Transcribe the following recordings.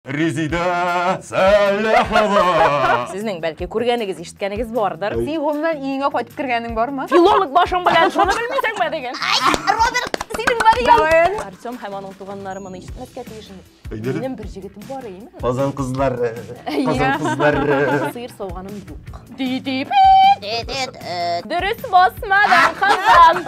Резидә Сәләхова! Сезнең бәлки күргәнегез, ишеткәнегез бардыр. Син гомумән иңгә кайтып кергәнең бармы? Филолог башың белән шуны белмисеңме диген. Роберт, синең бар икән. Артем һәм аның туганнары моны ишетмәскә тиеш. Минем бер җегетем бар име? Казан кызлар. Казан кызлар. Сыер сауганым юк. Ди ди. Дөрес басмадан Казан.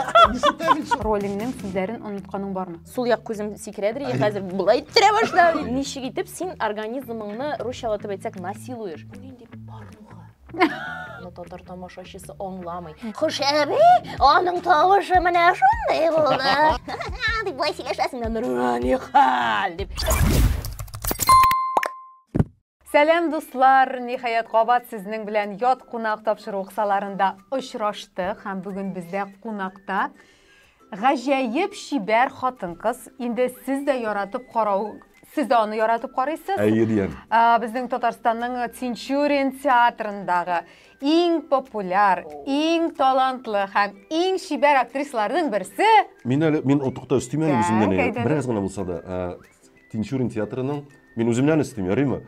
Ролиңнең сүзләрен онытканың бармы? сул як күзем сикерә дери хәзер болай иттерә башла ничек итеп син организмыңны русчалатып әйтсәк насилуешь бу нинди порнуха татар тамашачысы аңламый хушәби аның тавышы менә шундый булды дип болай сөйләшәсең нурани хәл дип Сәлам дуслар! Ниһаять кабат сезнең белән ят кунак тапшыру кысаларында очраштык һәм бүген бездә кунакта гаҗәеп чибәр хатын-кыз. Инде сез дә яратып карау, сез дә аны яратып карыйсыз. Әйе, диян. Безнең Татарстанның Тинчурин театрындагы иң популяр, иң талантлы һәм иң чибәр актрисаларның берсе. Мин әле мин отыкта өстим әле үземнән. Бераз гына булса да Тинчурин театрының, мин үземнән өстим, ярыймы?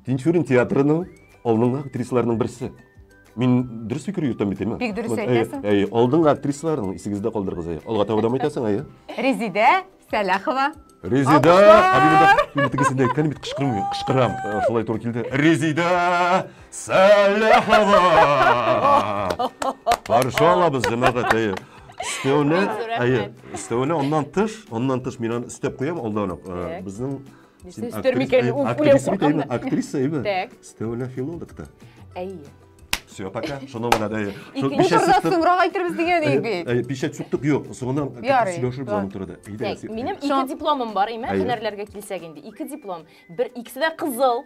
Тинчурин театрының алдыңгы актрисаларның берсе. Мин дөрес фикер йөртәм бит, әйме? Бик дөрес әйтәсең. Әй, алдыңгы актрисаларның исегездә калдырыгыз, әй. Алга таба да әйтәсең, әй. Резидә Сәләхова. Резидә, абимда, мин тегесендә әйткән бит кычкырмый, кычкырам. Шулай туры килде. Резидә Сәләхова. Каршы алабыз, җәмәгать, әй. өстәвенә әйе өстәвенә аннан тыш аннан тыш мин аны өстәп куям алдан ук э, безнең актриса әйме өстәвенә филолог та әйе все пока шуны гына да икенче турда соңрак әйтербез дигән идек бит печать сүктек юк соңыннан сөйләшербез аны турыда минем ике дипломым бар әйме һөнәрләргә килсәк инде ике диплом бер икесе дә кызыл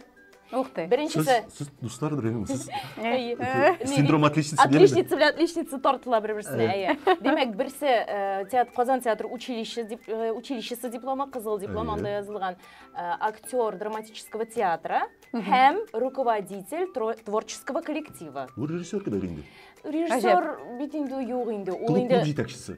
Ух ты. Беренчесе. Сез дуслар белән сез. Синдром отличницы. Отличница белән отличница тартыла бер-берсенә, әйе. Димәк, берсе э, театр Казан театр училище дип э, училищесы дипломы, кызыл диплом анда язылган э, актер драматического театра һәм руководитель творческого коллектива. Бу режиссер кебек инде. Режиссер бит инде юк инде. Ул инде клуб җитәкчесе.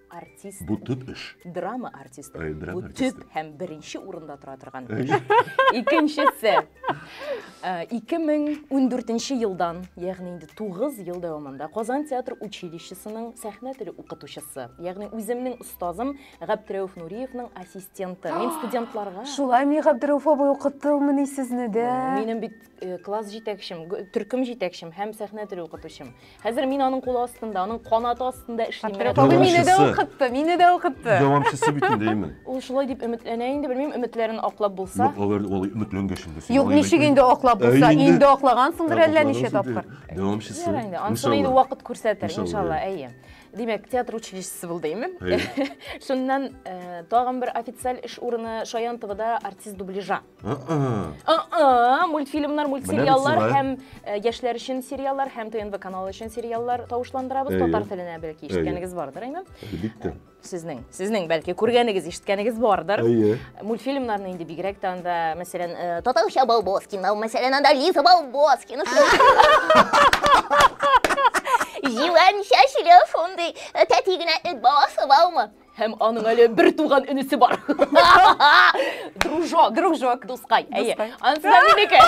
артист. Бу төп эш. Драма артисты. Э, драма Бу артисты. төп һәм беренче урында тора торган. Э, эш. Икенчесе. Э, 2014 елдан, ягъни инде 9 ел дәвамында Казан театр училищесының сәхнә теле укытучысы, ягъни үземнең остазым Габдрәүф Нуриевның ассистенты. Мин студентларга Шулай ми Габдрәүф абый укыттылмыни сезне дә? Минем бит э, класс җитәкчем, г- төркем җитәкчем һәм сәхнә теле укытучым. Хәзер мин аның кулы астында, аның канаты астында эшлим. Портрет алу мине дә Дәвамчысы. укытты, мине дә укытты. Дәвамчысы бит инде имин. Ул шулай дип өметләнә инде, белмим, өметләрен аклап булса. Юк, алар алай өметләнгәч инде. син Юк, алай ничек әйтмә. инде аклап булса, Әй, инде аклагансыңдыр Ә, әллә аклагансың ничә инде. тапкыр. Дәвамчысы. Ярый инде, анысыны инде Иншалла. вакыт күрсәтер, Иншалла, иншалла, әйе. Димәк, театр училищесы булды, име? Әйе. Шуннан э, тагын бер официаль эш урыны Шаянтовада артист дубляжа. мультфильмнар мультсериаллар һәм э, яшьләр өчен сериаллар һәм тнв каналы өчен сериаллар тавышландырабыз татар теленә бәлки ишеткәнегез бардыр әйме әлбиттә сезнең сезнең бәлки күргәнегез ишеткәнегез бардыр әйе мультфильмнарны инде бигрәк тә анда мәсәлән э, татарча балбоскина мәсәлән анда лиза балбоскина җилән чәчле шундый э, тәти генә эт баласы бармы Һәм аның әле бер туган энесе бар. Дружок. Дружок. Дускай. Әйе. Анысы да минеке.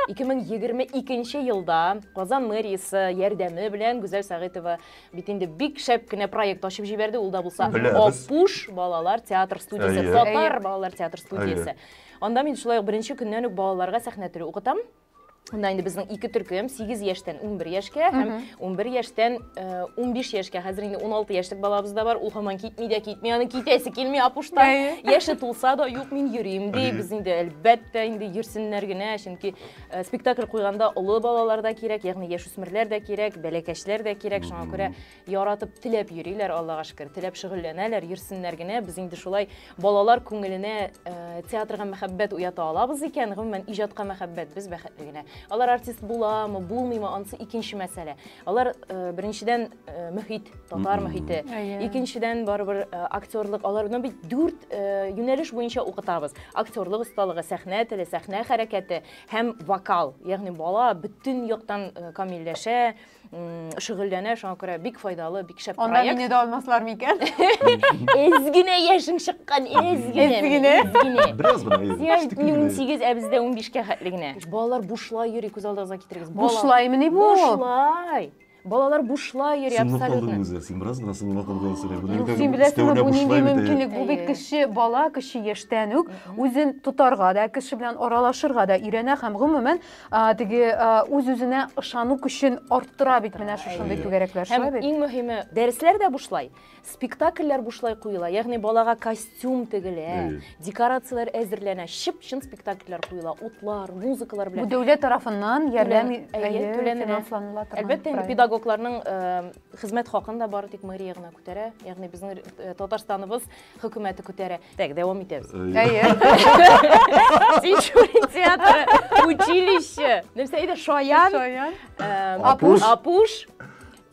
2022 елда Казан мэриясе ярдәме белән Гүзәл Сәгыйтова бит инде бик шәп кенә проект ачып җибәрде. Ул да булса Апуш балалар театр студиясе, татар балалар театр студиясе. Анда мин шулай ук беренче көннән үк балаларга сәхнә теле укытам. Мында инде безнең ике төркем, 8 яшьтән 11 яшькә һәм 11 яшьтән 15 э, яшькә. Хәзер инде 16 яшьлек балабыз да бар. Ул һаман китми дә китми, аны китәсе килми апушта. Яше тулса да, юк, мин йөрим ди. Без инде әлбәттә инде йөрсеннәр генә, чөнки э, спектакль куйганда олы балалар да кирәк, ягъни яшүсмерләр дә кирәк, бәләкәчләр дә кирәк. Шуңа күрә Яратып, теләп йөриләр, Аллага шөкер, теләп шөгыльләнәләр, йөрсеннәр генә. Без инде шулай балалар күңеленә э, театрга мәхәббәт уята алабыз икән, гомумән иҗатка мәхәббәт без бәхетле генә. Алар артист буламы, булмыймы, анысы икенче мәсьәлә. Алар э, беренчедән э, мөхит, татар мөхите. Икенчедән барыбер э, актерлык, аларны бит дүрт э, юнәлеш буенча укытабыз. Актерлык осталыгы, сәхнә теле, сәхнә хәрәкәте һәм вокал. Ягъни бала бөтен яктан э, камилләшә, шөгыльләнә, шуңа күрә бик файдалы, бик шәп Анда проект. мине дә алмаслар микән? Эз генә яшең чыккан, эз генә. Эз генә. Эз генә. Бераз гына. Сиңа бит мин 18, ә бездә 15-кә хәтле генә. Балалар бушлай йөри, күз алдыгызга китерегез. Бушлаймыни бу? Бушлай. Балалар бушлай йөри абсолютно. Син калдың үзе, син бераз гына сынга калган сәләбе. Син беләсеңме, бу нинди мөмкинлек? Бу бит кеше бала, кеше яшьтән үк үзен тотарга да, кеше белән аралашырга да өйрәнә һәм гомумән теге үз-үзенә ышану көчен арттыра бит менә шушындый түгәрәкләр, шулай бит? Һәм иң мөһиме, дәресләр дә бушлай, спектакльләр бушлай куела, ягъни балага костюм тегелә, декорацияләр әзерләнә, чып-чын спектакльләр куела, утлар, музыкалар белән. Бу дәүләт тарафыннан ярдәм түләнелә. Әлбәттә, инде педагогларның хезмәт хакын да бары тик мэрия генә күтәрә, ягъни безнең Татарстаныбыз Хөкүмәте күтәрә. Так, дәвам итәбез. Әйе. Тинчурин театры, училище. Нәрсә иде? Шаян. Шаян. Апуш. Апуш.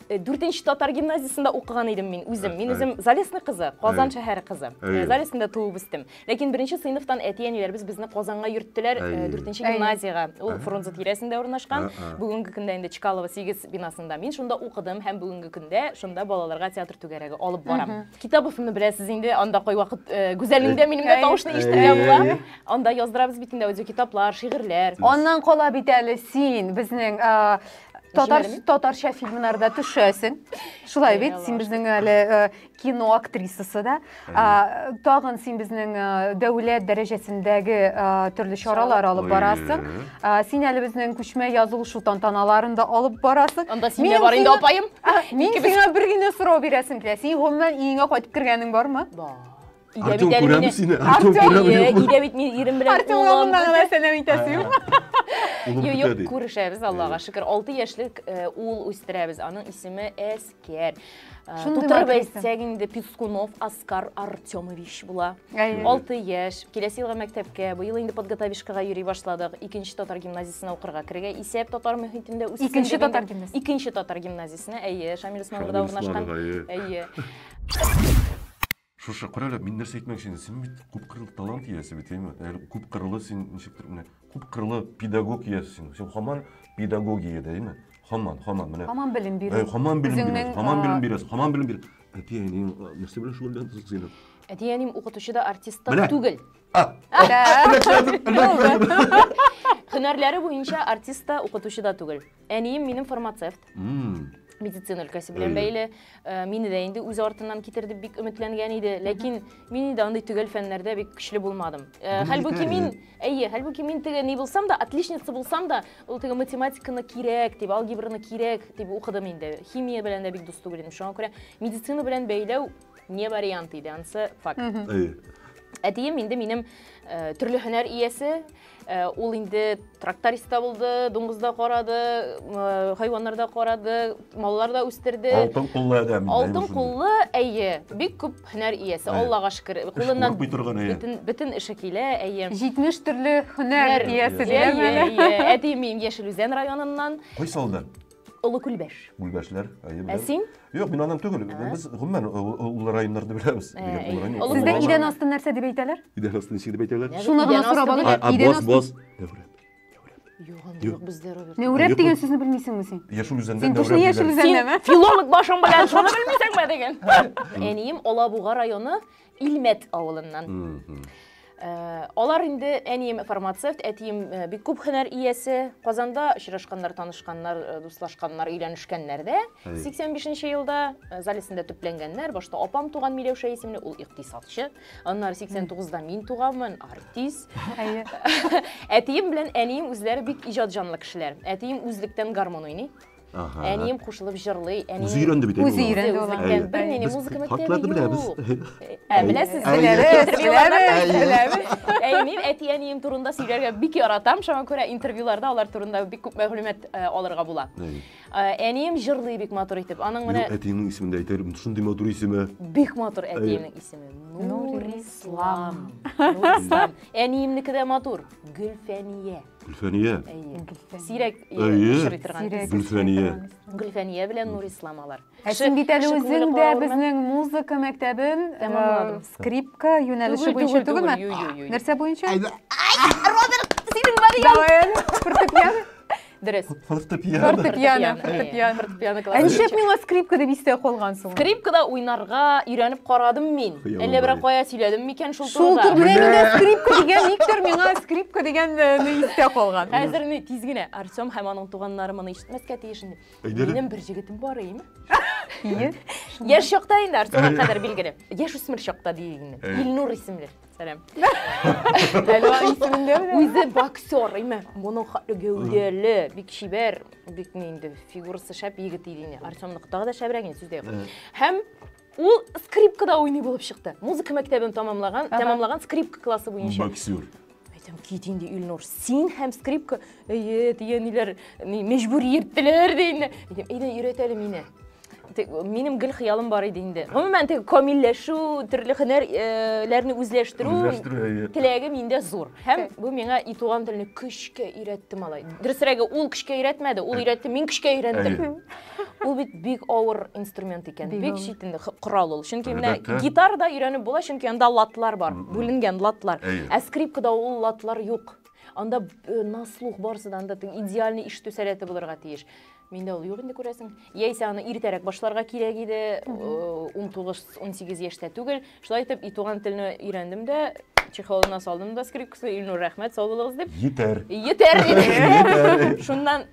Э, дүртенче татар гимназиясендә укыган идем мин үзем мин үзем залесный кызы казан шәһәре кызы э, залесныйда туып үстем ләкин беренче сыйныфтан әти әниләребез безне казанга йөрттеләр э, дүртенче гимназиягә ул фрунзе тирәсендә урнашкан бүгенге көндә инде чкалова сигез бинасында мин шунда укыдым һәм бүгенге көндә шунда балаларга театр түгәрәге алып барам Китабовны беләсез инде, анда кайвакыт э, Гүзәлнең дә минем дә тавышны ишетергә Әй, була. әй. Анда яздырабыз бит инде аудиокитаплар, шигырьләр. Аннан кала бит әле син безнең а, татар Җимәлеме? татарча фильмнарда төшәсең. Шулай бит, син Яралар. безнең әле э, кино актрисасы да. А, Тагын син безнең э, дәүләт дәрәҗәсендәге э, төрле чаралар алып барасың. Ой-ой-ой. Син әле безнең күчмә язылышу тантаналарын да алып барасың. Анда син дә бар инде, апаем. Мин сиңа бер генә сорау бирәсем килә. Син гомумән иңә кайтып кергәнең бармы? Бар. Артем күрәме сине? Артем күрәме? Өйдә бит мин ирем белән. Артем моннан гына сәлам итәсе юк. Юк, күрешәбез, Аллага шөкер. 6 яшьлек ул үстерәбез. Аның исеме Эс Кер. Тутырып әйтсәк инде Пискунов Оскар Артемович була. 6 яшь. Киләсе елга мәктәпкә, быел инде подготовишкага йөри башладык. Икенче татар гимназиясенә укырга керергә исәп татар мөхитендә үсте. Икенче татар гимназиясенә. Икенче татар гимназиясенә, әйе, Шамил Усмановда урнашкан. Әйе. Шушы, кара әле, мин нәрсә әйтмәкче идем, син бит күпкырлы талант иясе бит, әйеме? Әле күпкырлы син ничектер менә күпкырлы педагог иясе син. Син хаман педагогиядә, әйеме? Хаман, хаман менә. Хаман белем бирү. Әй, хаман белем бирәсең, Үзеңнең, хаман а, белем бирәсең, хаман белем бир. Әти әниең а, нәрсә белән шөгыльләнәсең син? Әти-әним укытучы да, артист та Менә. түгел. А, а, Да. эләктердем, эләктердем. Һөнәрләре буенча артист та, укытучы да түгел. Әнием минем фармацевт. Медицина өлкәсе белән бәйле. Э, мине дә инде үз артыннан китер дип бик өметләнгән иде. Ләкин мин инде андый төгәл фәннәрдә бик көчле булмадым. Э, хәлбуки мин, әйе, хәлбуки мин теге ни булсам да, отличница булсам да, ул теге математиканы кирәк дип, алгебраны кирәк дип укыдым инде. Химия белән дә бик дус түгел идем. Шуңа күрә медицина белән бәйләү не вариант иде, ансы факт. Әтием инде минем э, төрле һөнәр иясе, Э, ул инде тракторист та булды дуңгыз да карады э, хайваннар да карады маллар да үстерде алтын куллы адәм алтын куллы әйе бик күп һөнәр иясе аллага шөкер кулыннан бөтен бөтен эше килә әйе җитмеш төрле һөнәр иясе әти мин яшел үзән районыннан кайсы авылдан Олы Күлбәш. Күлбәшләр, әйе, беләм. Ә син? Юк, мин аннан түгел. Без гомумән олы районнарны беләбез. Сездә идән асты нәрсә дип әйтәләр? Идән асты ничек дип әйтәләр? Шуны гына сорап алыйк. Идән асты. Бос, бос. Юк, бездә Рәүрәп. Нәүрәп дигән сүзне белмисеңме син? Яшел үзәндә Син точно Яшел үзәндәме? Филолог башың белән шуны белмисеңме диген. Әнием Алабуга районы Илмәт авылыннан. Э, алар инде әнием фармацевт, әтием э, бик күп һөнәр иясе. Казанда очрашканнар, танышканнар, э, дуслашканнар, өйләнешкәннәр дә. 85 елда Залесендә төпләнгәннәр. Башта апам туган Миләүшә исемле, ул икътисадчы. Аннары 89да мин туганмын, артист. Әтием белән әнием үзләре бик иҗат җанлы кешеләр. Әтием үзлектән гармон уйный. Ага. Әнием кушылып җырлый. Әнием... Үзе өйрәнде бит. Үзе өйрәнде ул. Бер нинди музыка мәктәбе юк. Хатларны беләбез. Ә беләсез, беләбез. Беләбез. Әй, мин әти-әнием турында сөйләргә бик яратам. Шуңа күрә интервьюларда алар турында бик күп мәгълүмат э, алырга була. Э, әнием җырлый бик матур итеп. Аның менә Әтиеңнең исемен дә әйтер. Шундый матур исеме. Бик матур әтиемнең исеме. Нурислам. Нурислам. Әниемнеке дә матур. Гөлфәния. Гөлфәния. Сирәк очрый торган. Гөлфәния. Гөлфәния белән Нур Ислам алар. Ә син бит әле үзең дә безнең музыка мәктәбен э, скрипка юнәлеше буенча түгелме? Нәрсә буенча? Роберт, синең Мария. Давай, фортепиано. Дөрес. Фортепиано. Фортепиано. Фортепиано. Ә нишләп миңа скрипка дип истә калган соң? Скрипкада уйнарга өйрәнеп карадым мин. Әллә берәр кая сөйләдем микән шул турыда? Шул турыда миңа скрипка дигән никтер миңа скрипка дигән ни истә калган. Хәзер ни тиз генә Артем һәм аның туганнары моны ишетмәскә тиеш инде. Минем бер җегетем бар иде. Яшь чакта инде Артемга кадәр билгеле. Яшь үсмер чакта диелгән. Илнур исемле. Сәлам. Әлва исемендә менә. Үзе боксер, име. Моның хатлы гәүдәле, бик чибәр, бик ни инде фигурасы шәп егет иде инде. Артемныкы тагы да шәбрәк инде сүздә юк. Һәм ул скрипкада уйный булып чыкты. Музыка мәктәбен тәмамлаган, тәмамлаган скрипка классы буенча. Боксер. Әйтәм, кит инде Илнур, син һәм скрипка, әйе, дигән ниләр, мәҗбүр йөрттеләр ди инде. Әйтәм, әйдә, өйрәт әле мине. Минем гел хыялым бар иде инде. Гомумән, теге камилләшү, төрле һөнәрләрне үзләштерү теләге миндә зур. Һәм бу миңа и туган телне көчкә өйрәтте малай. Дөресрәге, ул көчкә өйрәтмәде, ул өйрәтте, мин көчкә өйрәндем. Ул бит бик авыр инструмент икән, бик читен корал ул. Чөнки менә гитарада өйрәнеп була, чөнки анда латлар бар, бүленгән латлар. Ә скрипкада ул латлар юк. Анда на слух барысы да анда идеальный ишетү сәләте булырга тиеш. Миндә ул юк инде күрәсең. Яисә аны иртәрәк башларга кирәк иде, 19-18 яшьтә түгел. Шулай итеп, и туган телне өйрәндем дә, чехолына салдым да скрипкасы, Илнур, рәхмәт, сау булыгыз дип. Йитәр. Йитәр диде. Йитәр. Шуннан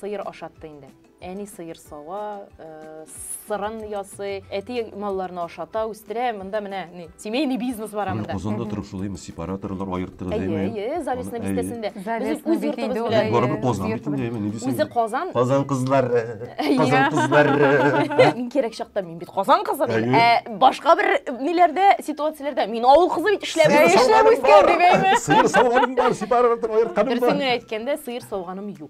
Сыер ашатты инде. Әни сыер сава, сырын ясый, әти малларны ашата, үстерә. Монда менә ни, семейный бизнес бар монда. Казанда торып шулаймы, сепараторлар аерттыгыз, әйме? Әйе, әйе, Залесна бистәсендә. Без үз йортыбыз белән. Барыбер Казан бит инде, әйме, ни дисең? Үзе Казан. Казан кызлары. Казан кызлары. Мин кирәк чакта мин бит Казан кызы бит. Ә башка бер ниләрдә, ситуацияләрдә мин авыл кызы бит эшләп, эшләп үскән дип әйме? Сыер савганым бар, сепаратор аертканым бар. Дөресен әйткәндә, сыер савганым юк.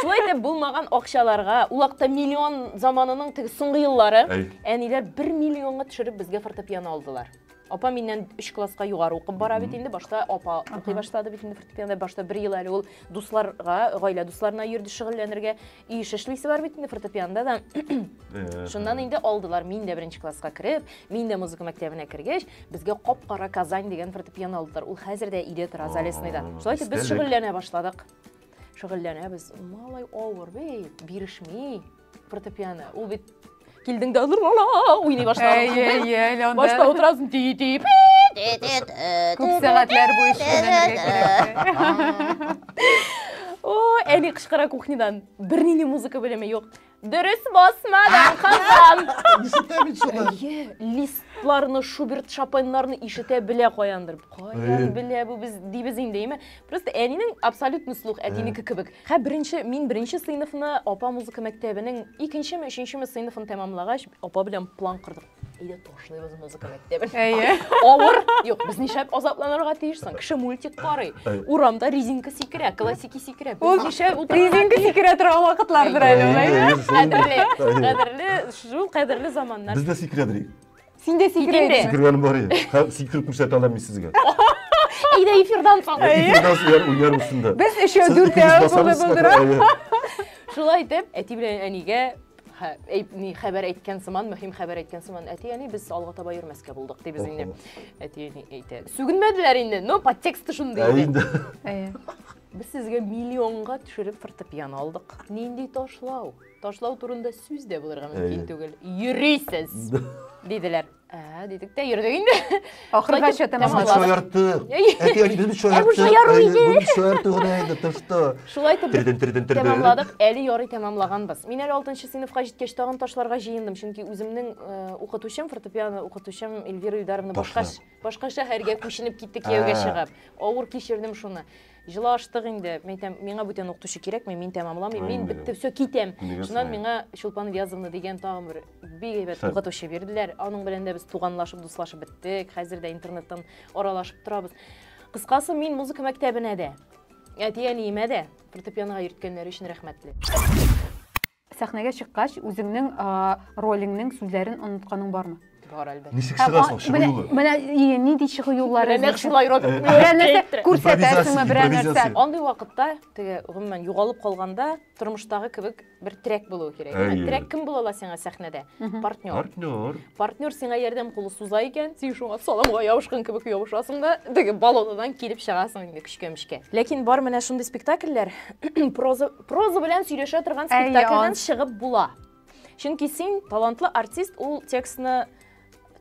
Шулай итеп, булмаган акчаларга, ул вакытта миллион заманының теге соңгы еллары, Әй. әниләр бер миллионга төшереп безгә фортепиано алдылар. Апа миннән өч класска югары укып бара бит инде, башта апа укый башлады бит инде фортепиано, башта бер ел әле ул дусларга, гаилә дусларына йөрде шөгыльләнергә. Өй эше эшлисе бар бит инде фортепианода да. Э, Шуннан инде алдылар. Мин дә беренче класска кереп, мин дә музыка мәктәбенә кергәч, безгә кап-кара Казань дигән фортепиано алдылар. Ул хәзер дә өйдә тора, Залесныйда. Шулай итеп без Истәлек. шөгыльләнә башладык. шөгыльләнәбез малай авыр бит бирешми фортепиано ул бит килдең дә уйный башладың башта утырасың ти ти күп сәгатьләр буе әни кычкыра кухнядан бернинди музыка белеме юк Дөрес басмадың, кызым. Ишетәм бит шуны. Әйе, листларны, Шуберт Шопеннарны ишетә белә каяндыр. Каян белә бу без дибез инде, әйме? Просто әнинең абсолютный слух, әтинеке кебек. Хә беренче, мин беренче сыйныфны, апа музыка мәктәбенең икенчеме, өченчеме сыйныфын тәмамлагач, апа белән план кордык. Әйдә ташлыйбыз музыка мәктәбен. Әйе. Авыр. Юк, без нишләп азапланырга тиеш соң? Кеше мультик карый. Урамда резинка сикерә, классики сикерә. Без нишләп утырырга Резинка сикерә торган вакытлардыр әле ул. Кадерле, кадерле, шул кадерле заманнар. Без дә сикерәдер. Син дә сикерә идең. Сикергән бар иде. Хәм сикереп күрсәтә алам мин сезгә. Әйдә эфирдан соң. Эфирдан соң уйнар өстендә. Без өчәү дүртәү булып булдыра. Шулай итеп, әти белән әнигә Хә, әйт, ни хәбәр әйткән сыман, мөһим хәбәр әйткән сыман, әти әни без алга таба йөрмәскә булдык, ди без инде. Әти әни әйтә. Сүгенмәделәр инде, но подтексты шундый Ә инде. Әйе. Без сезгә миллионга төшереп фортепиано алдык. Нинди ташлау? Ташлау турында сүз дә булырга мөмкин түгел. Йөрисез, диделәр. Ә, дидек тә йөрдек инде. Ахыргача тәмамладык. Без шаярттык. Әти, әни, без шаярттык. Бу шаяру иде. Бу шаярту гына иде, ты что? Шулай итеп тирден тирден тирден. Тәмамладык. Әле ярый тәмамлаганбыз. Мин әле 6 сыйныфка җиткәч тагын ташларга җыендым, чөнки үземнең э, укытучым, фортепиано укытучым Эльвира Илдаровна башка башка шәһәргә күченеп китте кияүгә чыгып. Авыр кичердем шуны. Җылы аштык инде. Мин әйтәм, миңа бүтән укытучы кирәкми, мин тәмамламыйм, мин Гаимә. бетте, все, китәм. Нигә Шуннан сорыйм? миңа Чулпан Ильязовна дигән тагын бер бик әйбәт Хет. укытучы бирделәр. Аның белән дә без туганлашып, дуслашып беттек. Хәзер дә интернеттан аралашып торабыз. Кыскасы, мин музыка мәктәбенә дә, әти-әниемә дә фортепианога йөрткәннәре өчен рәхмәтле. Сәхнәгә чыккач, үзеңнең ролеңнең сүзләрен онытканың бармы? Бар әлбәттә. Ничек чыгасың? Чыгу юлы. Менә нинди чыгу юллары? Менә шулай роль. Берәр нәрсә күрсәтәсеңме, берәр нәрсә? Андый вакытта, теге, гомумән, югалып калганда, тормыштагы кебек бер терәк булуы кирәк. Терәк кем була ала сиңа сәхнәдә? Партнер. Партнер. Партнер сиңа ярдәм кулы суза икән, син шуңа саламга ябышкан кебек ябышасың да, теге баллонадан килеп чыгасың инде көчкә-мөчкә. Ләкин бар менә шундый спектакльләр, проза Проза белән сөйләшә торган спектакльдән чыгып була. Чөнки син талантлы артист, ул текстны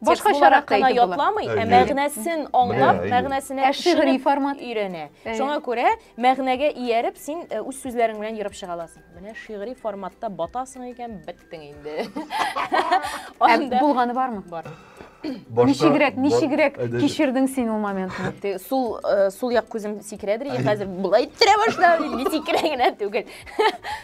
башка шарак кына ятламый, ә мәгънәсен аңлап, мәгънәсенә ә шигъри формат өйрәнә. Шуңа күрә мәгънәгә ияреп син үз сүзләрең белән ерып чыга аласың. Менә шигъри форматта батасың икән, бит. иттең инде. Ә булганы бармы? Бар. Ничегрәк, ничегрәк кичердең син ул моментны? Сул э, сул як күзем сикерәдер, я хәзер булай тирә башла, инде сикерә генә түгел.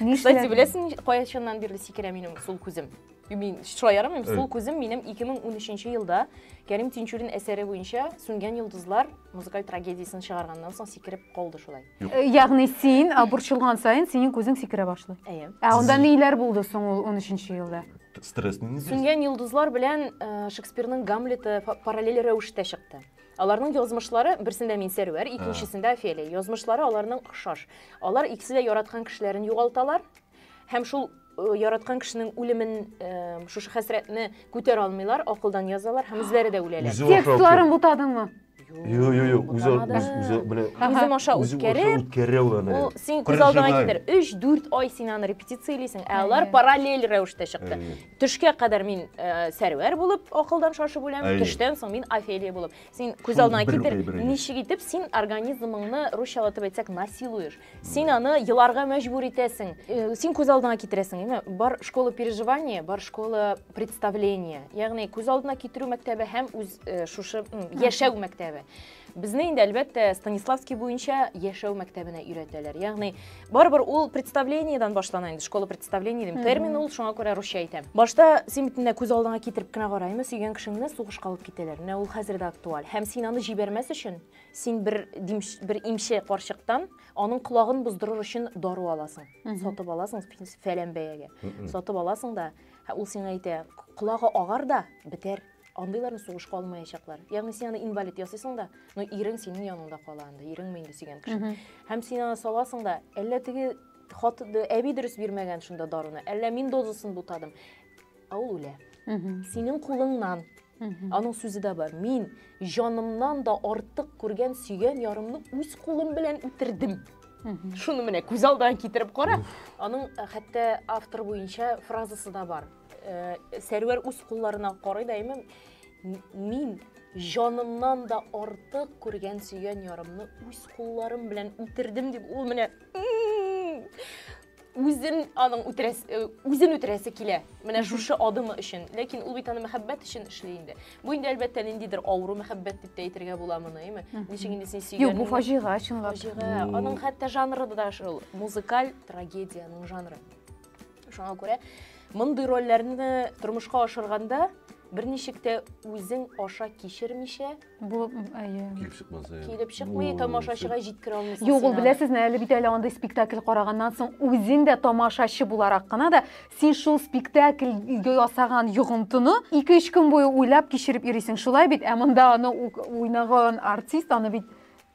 Кстати, беләсең, кая чыннан бирле сикерә минем сул күзем. Мин шулай ярамыйм, сул күзем минем 2013 елда Кәрим Тинчурин әсәре буенча Сүнгән йолдызлар музыкаль трагедиясен чыгарганнан соң сикереп калды шулай. Ягъни син а, борчылган саен синең күзең сикерә башлый. Әйе. Ә анда ниләр булды соң ул 13 елда? Стресс не неизвестно. Сүнгән йолдызлар белән э, Шекспирның Гамлеты фа- параллель рәвештә чыкты. Аларның язмышлары, берсендә мин Сәрвәр, икенчесендә Офелия. Язмышлары аларның охшаш. Алар икесе дә яраткан кешеләрен югалталар, Һәм шул яраткан кешенең үлемен шушы хәсрәтне күтәрә алмыйлар, акылдан язалар һәм үзләре дә үләләр. Текстларын бутадыңмы? Юк, юк, юк, үзе үзе белә. Үзем аша үткәреп, үткәрә ул аны. Ул син күз алдыңа китер. 3-4 ай син аны репетициялисең, ә алар параллель рәвештә чыкты. Төшкә кадәр мин Сәрвәр булып акылдан шашып үләм, төштән соң мин Офелия булып. Син күз алдыңа китер, ничек итеп син организмыңны русчалатып әйтсәк насилуешь. Син аны еларга мәҗбүр итәсең. Э, син күз алдыңа китерәсең, әйме? Бар школа переживания, бар школа представления. Ягъни күз алдына китерү мәктәбе һәм үз э, шушы яшәү мәктәбе. Безне инде әлбәттә Станиславский буенча яшәү мәктәбенә өйрәтәләр. Ягъни барыбер ул представлениедән башлана инде, школа представления дим. Термин ул, шуңа күрә русча әйтәм. Башта син бит күз алдыңа китереп кенә караймы, сөйгән кешеңне сугышка алып китәләр. Менә ул хәзер дә актуаль. Һәм син аны җибәрмәс өчен Син бер димш, бер имче карчыктан аның колагын боздырыр өчен дару аласың. Сатып аласың фәлән бәягә. Сатып аласың да, ул сиңа әйтә, колагы агар да бетәр. Андыйларны сугышка алмаячаклар. Ягъни син аны инвалид ясыйсың да, но ирең синең яныңда кала анда, иреңме инде сөйгән кеше. Һәм син аны саласың да, әллә теге хат әби дөрес бирмәгән шунда даруны, әллә мин дозасын бутадым. Ә ул үлә. Синең кулыңнан. Аның сүзе дә бар. Мин җанымнан да артык күргән сөйгән ярымны үз кулым белән үтердем. Шуны менә күз алдына китереп кара. Аның э, хәтта автор буенча фразасы да бар. Э, Сәрвәр үз кулларына карый да әйме, мин җанымнан да артык күргән сөйгән ярымны үз кулларым белән үтердем дип ул менә Үзен аның үтерәсе, э, үзен үтерәсе килә. Менә шушы адымы өчен. Ләкин ул бит аны мәхәббәт өчен эшли инде. Бу инде әлбәттә ниндидер авыру мәхәббәт дип тә әйтергә була моны, әйме? Ничек инде син сөйгән. Юк, бу фаҗига чынлап. Фаҗига. Аның хәтта жанры да шул, музыкаль трагедиянең жанры. Шуңа күрә мондый рольләрне тормышка ашырганда берничек тә үзең аша кичермичә Бу әйе. Килеп чыкмаса. Килеп чыкмый, тамашачыга җиткерә алмыйсың. Юк, ул беләсезме, әле бит әле андый спектакль караганнан соң үзең дә тамашачы буларак кына да син шул спектакль ясаган йогынтыны 2-3 көн буе уйлап кичереп йөрисең. Шулай бит, ә монда аны уйнаган артист аны бит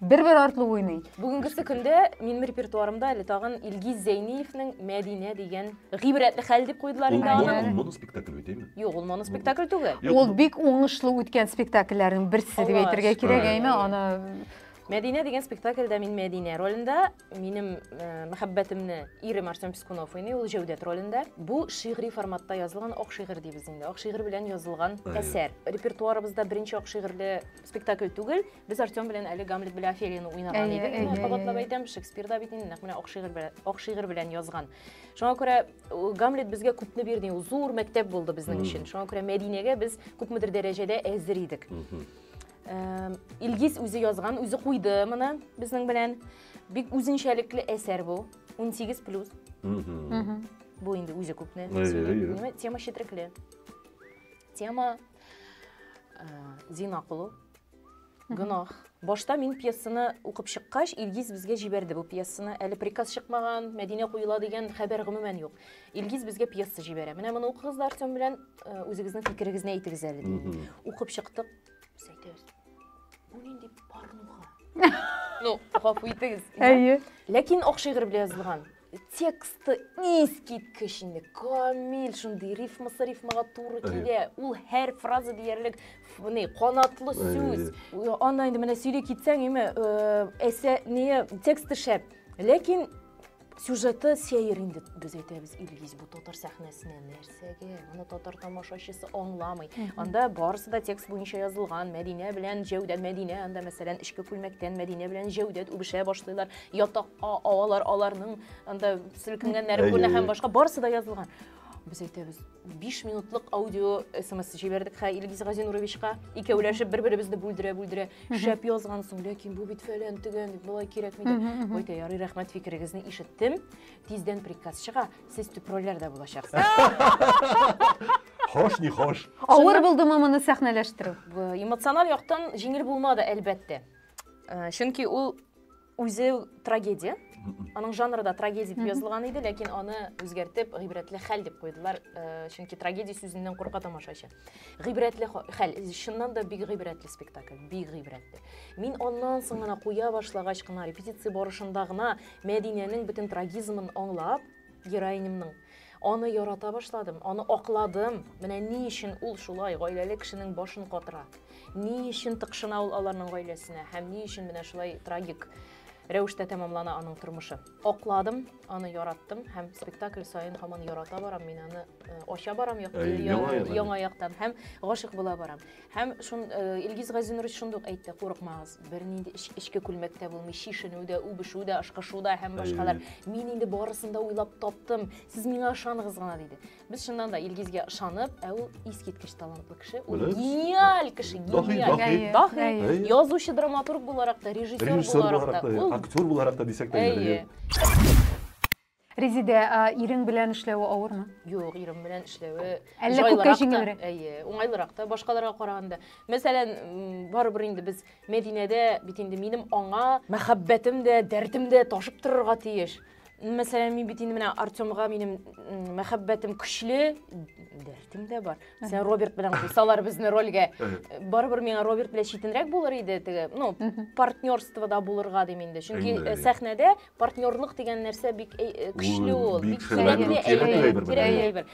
Бер-бер артлы уйный. Бүгенгесе көндә минем репертуарымда әле тагын Илгиз Зәйниевнең Мәдинә дигән гыйбрәтле хәл дип куйдылар инде аны. Ул моноспектакль бит, әйме? Юк, ул моноспектакль түгел. Ул бик уңышлы үткән спектакльләрнең берсе дип әйтергә кирәк, әйме? Аны Мәдинә дигән спектакльдә мин Мәдинә ролендә, минем э, мәхәббәтемне ирем Артем Пескунов уйный, ул Җәүдәт ролендә. Бу шигъри форматта язылган ак шигырь дибез инде. Ак шигырь белән язылган әсәр. Репертуарыбызда беренче ак шигырьле спектакль түгел. Без Артем белән әле Гамлет белән Офелияны уйнаган Әйе, идек. әйе, Менә әйе, кабатлап әйе. әйтәм, Шекспир да бит инде нәкъ менә ак шигырь белән, ак шигырь белән язган. Шуңа күрә ул Гамлет безгә күпне бирде, ул зур мәктәп булды безнең Мгм. өчен. Шуңа күрә Мәдинәгә без күпмедер дәрәҗәдә әзер идек. Мгм. Эм, Илгиз үзе язган, үзе куйды моны безнең белән. Бик үзенчәлекле әсәр бу. 18 плюс. Мгм. Мгм. Бу инде үзе күпне. Әйе, сөйли. әйе. Менә Тема четрекле. Тема э, зина кылу, гөнаһ. Башта мин пьесаны укып чыккач, Илгиз безгә җибәрде бу пьесаны. Әле приказ чыкмаган, Мәдинә куела дигән хәбәр гомумән юк. Илгиз безгә пьеса җибәрә. Менә моны укыгыз да Артем белән э, үзегезнең фикерегезне әйтегез әле ди. Укып чыктык. Без әйтәбез. Бу нинди порнуха? Ну, гафу итегез. Әйе. Ләкин ак шигырь белән язылган. Тексты искиткеч инде, камил, шундый рифмасы рифмага туры килә. Ул һәр фраза диярлек ни, канатлы сүз. Анда инде менә сөйли китсәң, име, э, әсә ни, тексты шәп. Ләкин сюжеты сәер инде без әйтәбез Илгиз бу татар сәхнәсенә нәрсә. Сәге, моны татар тамашачысы аңламый. Анда барысы да текст буенча язылган. Мәдинә белән Җәүдәт Мәдинә анда мәсәлән эчке күлмәктән Мәдинә белән Җәүдәт үбешә башлыйлар. Ятакка авалар аларның анда селкенгәннәре Әйе, күренә әйе. һәм башка барысы да язылган. Без әйтәбез, 5 минутлык аудио смс җибәрдек хә Илгиз Газинуровичка. Икәүләшеп бер-беребезне бүлдерә-бүлдерә. Шәп язгансың, ләкин бу бит фәлән төгән, дип, болай кирәкми дип. Әйтә, ярый, рәхмәт фикерегезне ишеттем. Тиздән приказ чыга. Сез төп рольләрдә булачаксыз. Хош, не хош. Авыр булдымы моны сәхнәләштерү? Эмоциональ яктан җиңел булмады, әлбәттә. Э, чөнки ул үзе трагедия. Аның жанры да трагедия дип язылган иде, ләкин аны үзгәртеп, гыйбрәтле хәл дип куйдылар, э, чөнки трагедия сүзеннән курка тамашачы. Гыйбрәтле хәл, чыннан да бик гыйбрәтле спектакль, бик гыйбрәтле. Мин аннан соң гына куя башлагач кына, репетиция барышында гына Мәдинәнең бөтен трагизмын аңлап, героинемның аны ярата башладым, аны акладым. Менә ни өчен ул шулай гаиләле кешенең башын катыра? Ни өчен тыкшына ул аларның гаиләсенә һәм ни өчен менә шулай трагик рәвештә тәмамлана аның тормышы? Акладым, аны яраттым һәм спектакль саен һаман ярата барам, мин аны э, ача барам як- Ә, я- яңа яңа, яңа. яктан һәм гашык була барам. Һәм шун э, Илгиз Газинурович шундук әйтте, курыкмагыз, бернинди эч, эчке күлмәк тә булмый, чишенү дә, үбешү дә, ашкышу да һәм башкалар. Мин инде барысын да уйлап таптым, сез миңа ышаныгыз гына диде. Без чыннан да Илгизгә ышанып, ә ул искиткеч талантлы кеше, ул Беләбез. гениаль кеше, Даһи, гениаль. даһи. Әйе, Даһи. әйе. Әйе. Язучы, драматург буларак та, режиссер Режиссер буларак буларак та, та, ул актер буларак та дисәк тә Әйе. өлгерер. Резидә, а, ирең белән эшләве авырмы? Юк, ирем белән эшләве Әллә җайлырак күпкә та, җиңелрәк? Әйе, уңайлырак та башкаларга караганда. Мәсәлән, м, барыбер инде без Мәдинәдә бит инде минем аңа мәхәббәтем дә, дәртем дә ташып торырга тиеш. мәсәлән, мин бит инде менә Артемга минем мәхәббәтем көчле, дәртем дә бар. Мәсәлән, Роберт белән куйсалар безне рольгә, барыбер миңа Роберт белән читенрәк булыр иде теге, ну, партнерство да булырга дим инде. Чөнки э, сәхнәдә партнерлык дигән нәрсә бик э, э, көчле ул, бик кирәкле әйбер.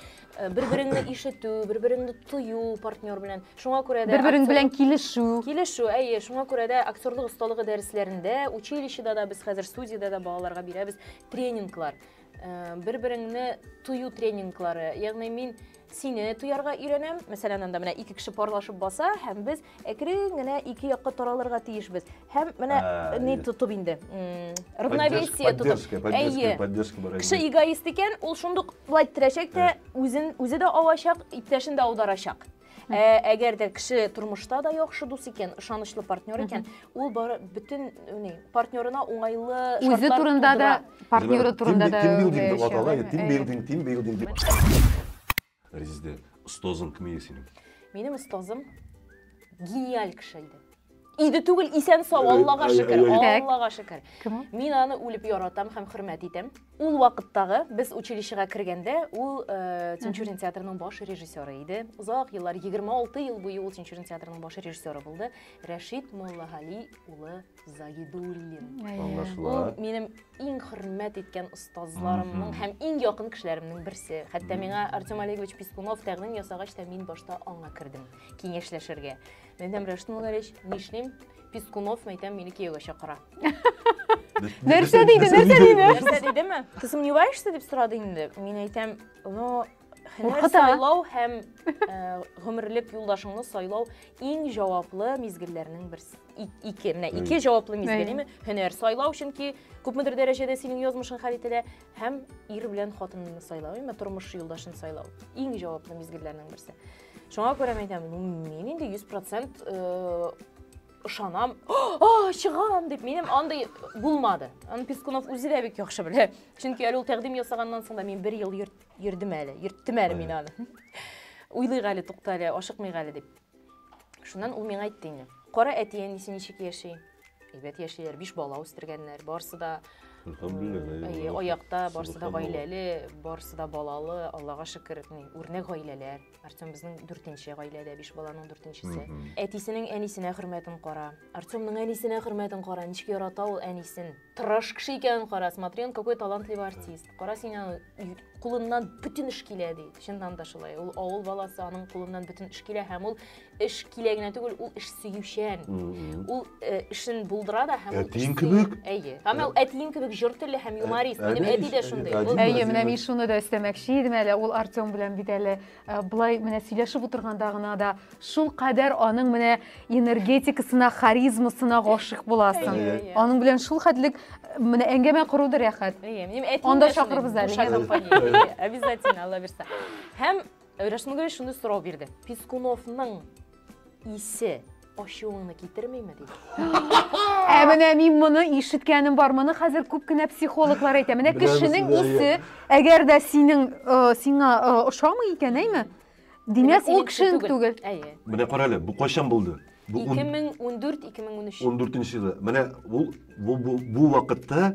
бер береңне ишетү бер береңне тою партнер белән шуңа күрә дә бер берең белән килешү килешү әйе шуңа күрә дә актерлык осталыгы дәресләрендә училищеда да без хәзер студиядә дә балаларга бирәбез тренинглар э, бер береңне тою тренинглары ягъни мин сине тоярга өйрәнәм мәсәлән анда менә ике кеше парлашып баса һәм без Әкрен генә ике якка таралырга тиешбез. Һәм менә Ә, ни е. тотып инде. м, Равновесие тотып. Поддержка, Әйе. поддержка, поддержка бар. Кеше эгоист икән, ул шундук былай терәчәк тә, үзен үзе дә авачак, иптәшен дә аударачак. Ә, әгәр дә кеше тормышта да яхшы дус икән, ышанычлы партнер икән, ул бары бөтен ни, партнерына уңайлы Үзе шартлар турында да, тудыра. партнеры турында да. Тимбилдинг уйлый дип атала, яшәгән. тимбилдинг, тимбилдинг дип. Резидә, остазың кем иде синең? Минем остазым гениаль кеше иде. Иде түгел, исән сау, Аллага шөкер, Аллага шөкер. Мин аны үлеп яратам һәм хөрмәт итәм. Ул вакыттагы без училищега кергәндә, ул э, Тинчурин театрының баш режиссеры иде. Озак еллар, 26 ел буе ул Тинчурин театрының баш режиссеры булды. Рәшит Моллагали улы Загидуллин. Аңлашыла. Ул минем иң хөрмәт иткән остазларымның һәм иң якын кешеләремнең берсе. Хәтта миңа Артем Олегович Пискунов тәкъдим ясагач та мин башта аңа кердем киңәшләшергә. Мин әйтәм, Рәшит Муллалевич, нишлим? Пискунов, мәйтәм, мине кияүгә чакыра. Нәрсә диде, нәрсә диде? Нәрсә дидеме? Ты сомневаешься дип сорады инде. Мин әйтәм, но Һөнәр сайлау һәм гомерлек юлдашыңны сайлау иң җаваплы мизгелләрнең берсе. Ике, менә ике җаваплы мизгелеме? Һөнәр сайлау, чөнки күпмедер дәрәҗәдә синең язмышың хәл ителә, һәм ир белән хатынны сайлау, яме тормыш юлдашын сайлау. Иң җаваплы мизгелләрнең берсе. Шуңа күрә мен әйтәм, ну, мин инде 100% ышанам, а, чыгам дип, минем андый булмады. Аны Пескунов үзе дә бик яхшы белә. Чөнки әле ул тәкъдим ясаганнан соң да мин бер ел йөрт Йөрдем әле, йөрттем әле мин аны. Уйлыйк әле, тукта әле, ашыкмыйк әле дип. Шуннан ул миңа әйтте инде. Кара әти әнисе ничек яши? Әйбәт яшиләр, биш бала үстергәннәр, барысы да Әйе, аякта, барысы да гаиләле, барысы да балалы, Аллага шөкер, үрнәк гаиләләр. Артем безнең дүртенче гаиләдә, биш баланың дүртенчесе. Әтисенең әнисенә хөрмәтен кара. Артемның әнисенә хөрмәтен кара, ничек ярата ул әнисен. тырыш кеше икәнен кара, смотри, он какой талантливый артист. Кара син аны кулыннан бүтін эш килә ди. Чыннан да шулай. Ул авыл баласы, аның кулыннан бүтін эш килә һәм ул эш килә генә түгел, ул эш сөючән. Ул э, эшен булдыра да һәм Әтиең кебек? Әйе. Һәм ул әтиең кебек җор телле һәм юморист. Ә, Минем әти дә шундый. Әйе, менә мин шуны да өстәмәкче идем әле. Ул Артем белән бит әле Э, былай менә сөйләшеп утырганда гына да шул кадәр аның менә энергетикасына харизмасына гашыйк буласың әйе, әйе. аның белән шул хәтлек э, менә әңгәмә кору да рәхәт анда чакырыбыз әле обязательно алла бирса һәм рәшмүгә шуны сорау бирде пискуновның исе ачуыңны китермиме дип ә менә мин моны ишеткәнем бар моны хәзер күп кенә психологлар әйтә менә кешенең исе әгәр дә синең сиңа ошамый икән әйме димәк ул кешенең түгел әйе менә кара әле бу кайчан булды бу 2014-2013 14 елы менә ул бу вакытта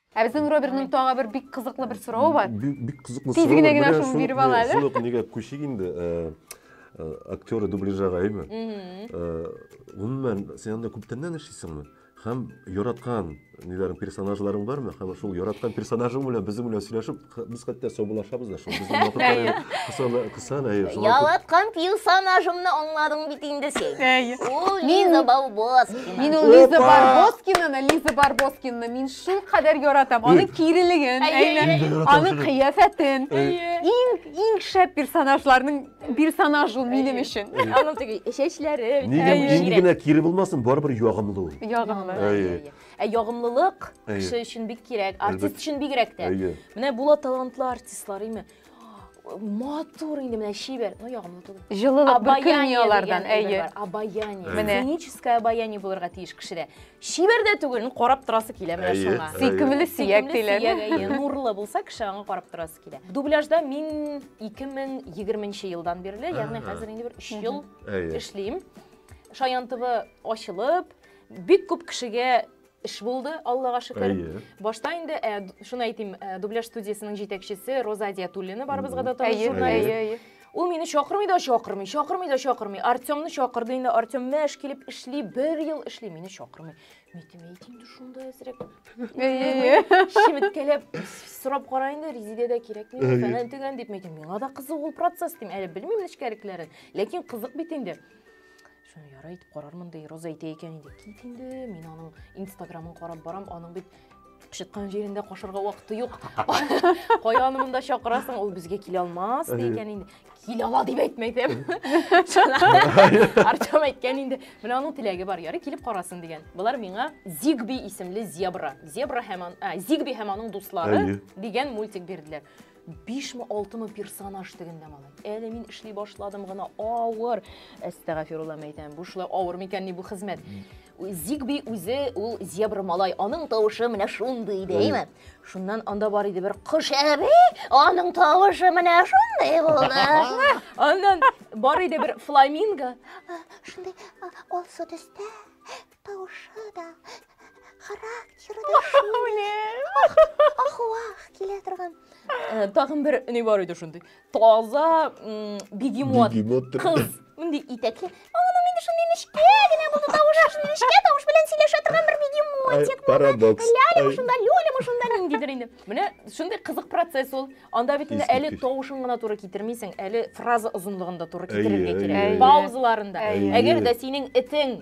Ә безнең Роберның тагы бер бик кызыклы бер сорауы бар. Бик кызыклы сорау. Тиз генә генә шуны биреп ала әле. Шуны книга күчик инде. Э, э, Актеры дубляжага әйме. Э, гомумән, син анда күптәннән эшлисеңме? Һәм яраткан ниләрең персонажларың бармы? Һәм шул яраткан персонажың белән безнең белән сөйләшеп, Без хәтта саубулашабыз да шул. Безнең вакытлар кысана, кысана. Ялаткан персонажымны аңладың бит инде син. Ул Лиза Барбоскина. Мин ул Лиза Барбоскинаны, Лиза Барбоскинаны мин шул кадәр яратам. Аның кирелеген, аның кыяфәтен. Иң иң шәп персонажларның персонаж ул минем өчен. Аның теге чәчләре. Нигә генә кире булмасын, барыбер ягымлы ул. Ягымлы. Ә ягымлылык Әйе. кеше өчен бик кирәк, артист Әлбәттә. өчен бигрәк тә. Әйе. Менә була талантлы артистлар, име? Матур инде менә чибәр, но ягымлы түгел. Җылылык бөркелми алардан, дигән әйе. әйбер бар. Обаяние. Әйе. Менә. Сценическое обаяние булырга тиеш кешедә. Чибәр дә түгел, ну, карап торасы килә менә Әйе. шуңа. Әйе. Сөйкемле сөяк Сөйкемле сөяк, диләр. әйе. Нурлы булса кеше аңа карап торасы килә. Дубляжда мин 2020 елдан бирле, ягъни Ага. хәзер инде бер 3 ел Әйе. эшлим. Шаян ТВ ачылып, Бик күп кешегә эш булды, Аллага шөкер. Башта инде, э, шуны әйтим, э, дубляж студиясенең җитәкчесе Роза Диятуллина барыбызга да таныш журналист. Ул мине чакырмый да чакырмый, чакырмый да чакырмый. Артемны чакырды инде, Артем мәш килеп эшли, бер ел эшли, мине чакырмый. Митем әйт инде шунда әзрәк. Шимиткәләп сорап кара инде, Резидә дә кирәк мин, фәнән төгән дип митем. Миңа да кызык ул процесс дим, әле белмим нечкәлекләрен, ләкин кызык бит инде. Шуны ярай итеп карармын ди, Роза әйтә икән инде. Кит инде, мин аның инстаграмын карап барам, аның бит кычыткан җирендә кашырга вакыты юк. Кая аны монда чакырасың, ул безгә килә алмас ди икән инде. Килә ала дип әйтмәдем. Артем әйткән инде, менә аның теләге бар, ярый килеп карасын дигән. Болар миңа Зигби исемле зебра. Зебра һәм а, Зигби һәм аның дуслары дигән мультик бирделәр. Бишме, алтымы персонаж тегендә малай. Әле мин эшли башладым гына, авыр. Әстәгафирулла мәйтәм, бу шулай авыр микән ни бу хезмәт? Зигби үзе ул зебра малай, аның тавышы менә шундый иде, әйме? Шуннан анда бар иде бер кош әби, аның тавышы менә шундый булды. Аннан бар иде бер фламинго. Шундый алсу төстә, Тавышы да, характеры да шундый. Ахуах килә торган. Э, тагын бер ни бар иде шундый. Таза бегемот. Бегемот. Кыз. Мондый итәкле. Аның инде шундый нечкә генә булды тавышы, шундый нечкә тавыш белән сөйләшә торган бер бегемотик. Парадокс. Лялема шунда, лёлема шунда ниндидер инде. Менә шундый кызык процесс ул. Анда бит инде әле тавышын гына туры китермисең, әле фраза озынлыгында туры китерергә кирәк. Паузаларында. Әгәр дә синең итең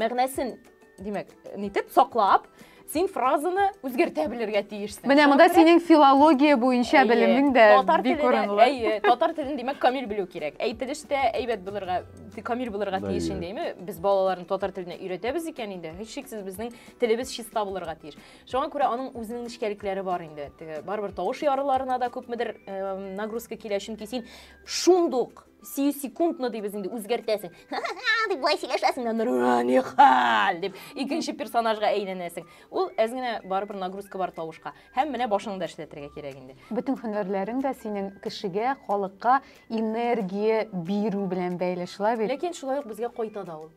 Мәгънәсен, димәк, нитеп саклап, син фразаны үзгәртә белергә тиешсең. Менә монда синең филология буенча белемең дә бик урынлы. Әйе, татар телен димәк камил белү кирәк. Әйтелеш тә әйбәт булырга, камил булырга тиеш инде, әйме? Без балаларны татар теленә өйрәтәбез икән инде, һичшиксез безнең телебез чиста булырга тиеш. Шуңа күрә аның үзенең нечкәлекләре бар инде. Барыбер тавыш ярыларына да күпмедер нагрузка килә, чөнки син шундук сиюсекундно дибез инде үзгәртәсең дип болай сөйләшәсең дә нурани хәл дип икенче персонажга әйләнәсең ул әз генә барыбер нагрузка бар тавышка һәм менә башыңны да эшләтергә кирәк инде бөтен һөнәрләрең дә синең кешегә халыкка энергия бирү белән бәйле шулай бит ләкин шулай ук безгә кайта да ул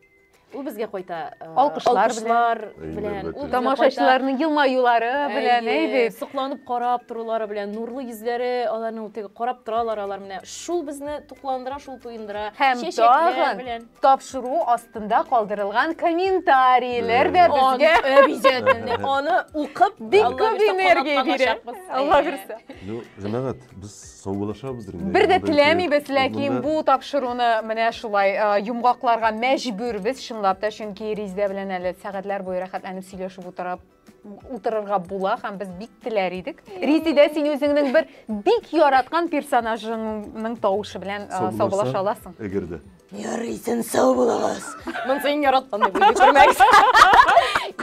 Ул безгә кайта э, Алкышлар алкышлар белән. белән. Ул безгә Тамашачыларның елмаюлары кайта, белән, әйе, әйе. Сокланып карап торулары белән, нурлы йөзләре аларның теге карап торалар алар менә. Шул безне тукландыра, шул туендыра. Һәм Чәчәкләр тагын белән. тапшыру астында калдырылган комментарийләр дә Аны- безгә Э, обязательно. Аны укып, Бик Алла күп бирса, энергия бирә. канатланачакбыз. Алла Әйе. бирса. Ну, җәмәгать, Без саубуллашабыз инде. Бер дә теләмибез, ләкин бу тапшыруны менә шулай э, йомгакларга мәҗбүрбез чынлап та, чөнки Ризда белән әле сәгатьләр буе рәхәтләнеп сөйләшеп утырып утырырга була һәм без бик теләр идек. Ризидә, син үзеңнең бер бик яраткан персонажыңның тавышы белән э, саубуллаша аласың. Эгерде. Ярый, син сау булыгыз. Монсы иң яраткан дип уйлый күрмәгез.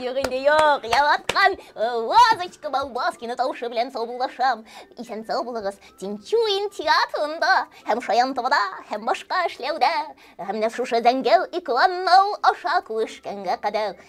Юк инде юк, яраткан Вазочка Балбаскина тавышы белән саубуллашам. Исән сау булыгыз. Тинчуин театрында һәм Шаянтовада һәм башка эшләүдә һәм менә шушы Зәңгәл экран нау аша күрешкәнгә кадәр